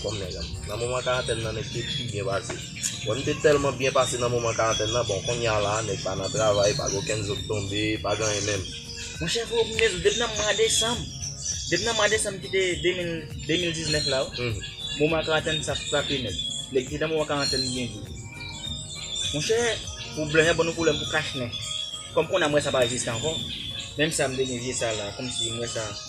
Kòm nèg an. Nan moman karantèn nan nèg te pi byen pase. Bon nou te tèlman byen pase nan moman karantèn nan bon konnya la nèg pa nan travay pa gen okenn zo k tonbe pa gen anyen menm. Mwen chè fo m menm depi nan mwa desanm depi nan mwa desanm ki te 2000 2019 la wi moman karantèn sa frape nèg. Nèg ki nan moman karantèn byen di. Mwen chè pou blan yo ban nou pwoblèm pou kach nen. Kòm konnya m wè sa pa egziste ankò. Menm sa m te gen vye sa la kòm si m wè sa.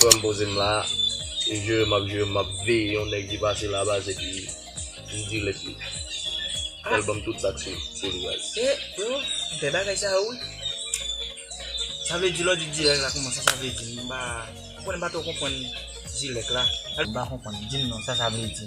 Frèm pozem la e jere map jere map veye yon nèg ki pase la baz epi m dirèk li fèl banm tout sak sou li baz. E yo fè bagay sa yo wi. Sa vle di lè w di dirèk la kouman sa sa vle di m pa konnen m pa twò konprann dirèk la. M pa konprann dim non sa sa vle di.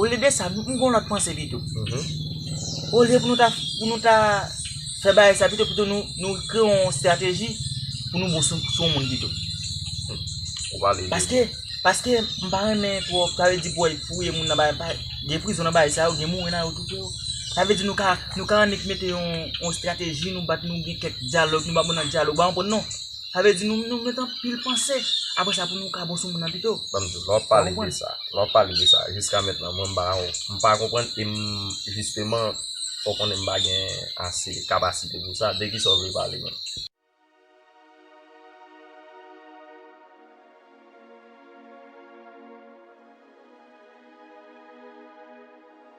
Olye de sa, m gon lòt panse pito. Olye pou nou ta pou nou ta fè bagay sa pito pito nou kreye yon estrateji pou nou bon sou yon moun pito. Ou pale de Paske, paske m pa renmen twòp, sa vle di pou al fouye moun nan bagay pa, gen prizon nan bagay sa yo, gen mouri nan yo tou tou. Sa vle di nou ka nou ka annik mete yon estrateji, nou bat nou gen kèk dyalòg, nou ba moun nan dyalòg, ou pa konprann non? Sa vle di nou nou met anpil panse apre sa pou nou ka bon sou moun nan pito. Banm diw, lè wap pale de sa, lè wap pale de sa jiska mentnan mwen m pa yon, m pa konprann e m jisteman fò w konnen m pa gen ase kapasite pou sa, de kisa w vle pale menm?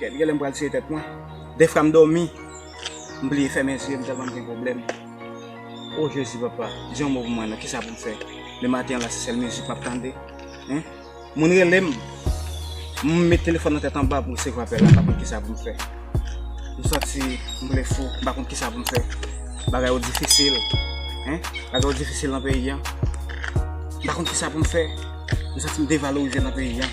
Kèt genlè m pral tiye tèt mwen. Defwa m domi m bliye fèmen zye m tèlman m gen pwoblèm oh jezi papa di yon mo pou mwen non kisa pou m fè le maten an la se sèl mizik map tande hein moun rele m m met telefòn nan tèt anba pou resevwa apèl la m pa konn kisa pou m fè m santi m vle fou m pa konn kisa pou m fè bagay yo difisil hein bagay yo difisil nan peyi an m pa konn kisa pou m fè m santi m devalorize nan peyi an.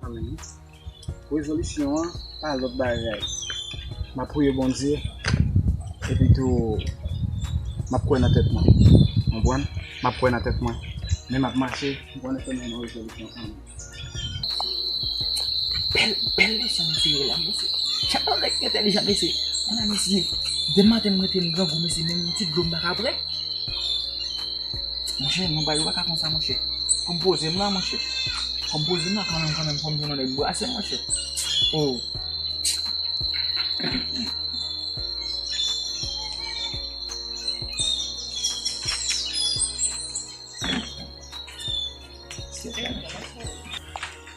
Amen rezolisyon an pa lot bagay map priye Bondye epi tou map kwè nan tèt mwen konprann map kwè nan tèt mwen men map mache m konnen ke m gen yon rezolisyon anm. Bel bel leson mesye yo la mesye chak fwa nèg entèlijan mesye ana mesye depi maten m rete m grangou mesye menm yon ti dlo m paka pran. Monchè non bay ou paka konsa monchè Fòm pozem la monchè Fòm pozem la kanmenm kanmenm fòm jwenn yon nèg brasem monchè oh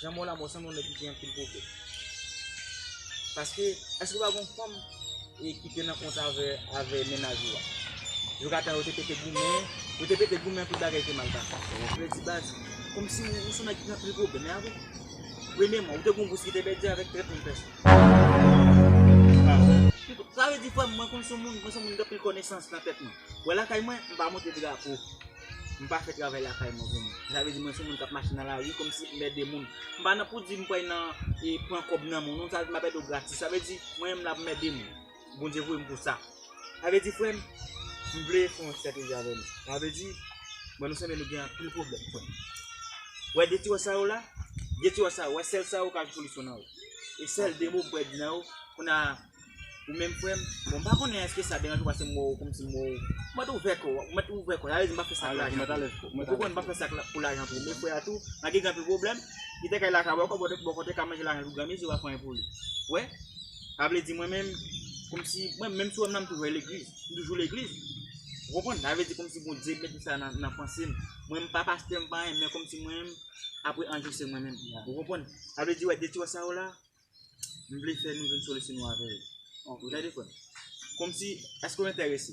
Jan mò la mò sanble yon nèg ki gen anpil pwoblèm. Paske, èske pa gon fanm e ki te nan kont avè avè mennaj ou a? Jou katan yo te pete goumen, yo te pete goumen tout bagay te mal pase. Ou vle di baz, kòm si ou son nèg ki gen anpil pwoblèm, e avre? Premyèman, ou te gon bous ki te pèdi avèk trèt menm pèson. Pa vre? Sa vle di frè m, mwen konn son moun, mwen son moun gen anpil konesans nan tèt mwen. Wè lakay mwen, m pa monte drapo. M pa fè travay lakay mwen pou mwen. Sa vle di mwen se moun k ap mache nan lari kòm si m ede moun. M pa nan pou di m pral nan e pran kòb nan moun non. Sa vle di m ap ede w gratis. Sa vle di mwen menm la pou m ede moun. Bondye voye m pou sa. Sa vle di frè m, m vle fè yon estrateji avè nou. Sa vle di, m wè nou sanble nou gen anpil pwoblèm frè m. Wè de ti wòch sa yo la, de ti wòch sa yo, wè sèl sa yo ka jwenn solisyon nan yo. E sèl de mo m pral di nan yo, kounye a. Ou menm frè m, bon m pa konnen èske sa deranj ou pase m wè w kòmsi m wè w, ou mèt ouvè kò w, ou mèt ouvè kò w, sa vle di m pa fè sa pou lajan tou, ou konprann m pa fè sa pou lajan tou, men frè a tou, malgre gen anpil pwoblèm, li te ka al lakay bò kò, bò kò te ka manje lajan l pou granmesi, w ap pran yon pou li. Ou wè? Sa vle di mwen menm, kòmsi, mwen menm sou wè m nan m toujou al legliz, m toujou legliz, ou konprann, sa vle di kòmsi Bondye met sa nan panse m, mwen m pa pastè m pa anyen men kòmsi mwen menm, apre anjou se mwen menm, ou konprann, sa vle di wè de ti wè sa yo la. m vle fè nou vin solisi nou avè yo. Ou tande frè m? Kòm si, èske ou enterese?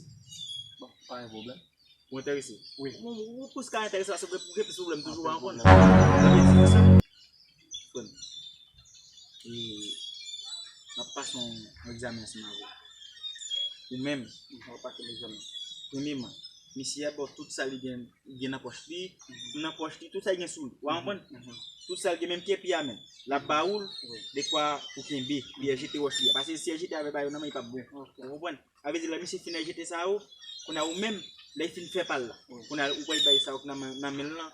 Bon, pa gen pwoblèm. Ou enterese? Wi. Bon, ou plis ka enterese paske pou gen plis pwoblèm toujou wè ankon. Frè m, e, m ap pase yon egzamen ansanm avè w. Ou menm, ou ap pase yon egzamen. Premyeman. Misye ap ba w tout sa li gen nan pòch li, nan pòch li, tout sa li gen sou li. Ou a konprann? Tout sa li gen, menm kèpi a menm. L ap ba ou l, dekwa ou kenbe, li al jete wòch li a. Pase si al jete avè bayo nan men li p ap bon. Ou konprann? Sa vle di lè misye fin al jete sa yo, kounye a ou menm, lè li fin fè pa l la, kounye a ou pral bay sa yo k nan men l lan,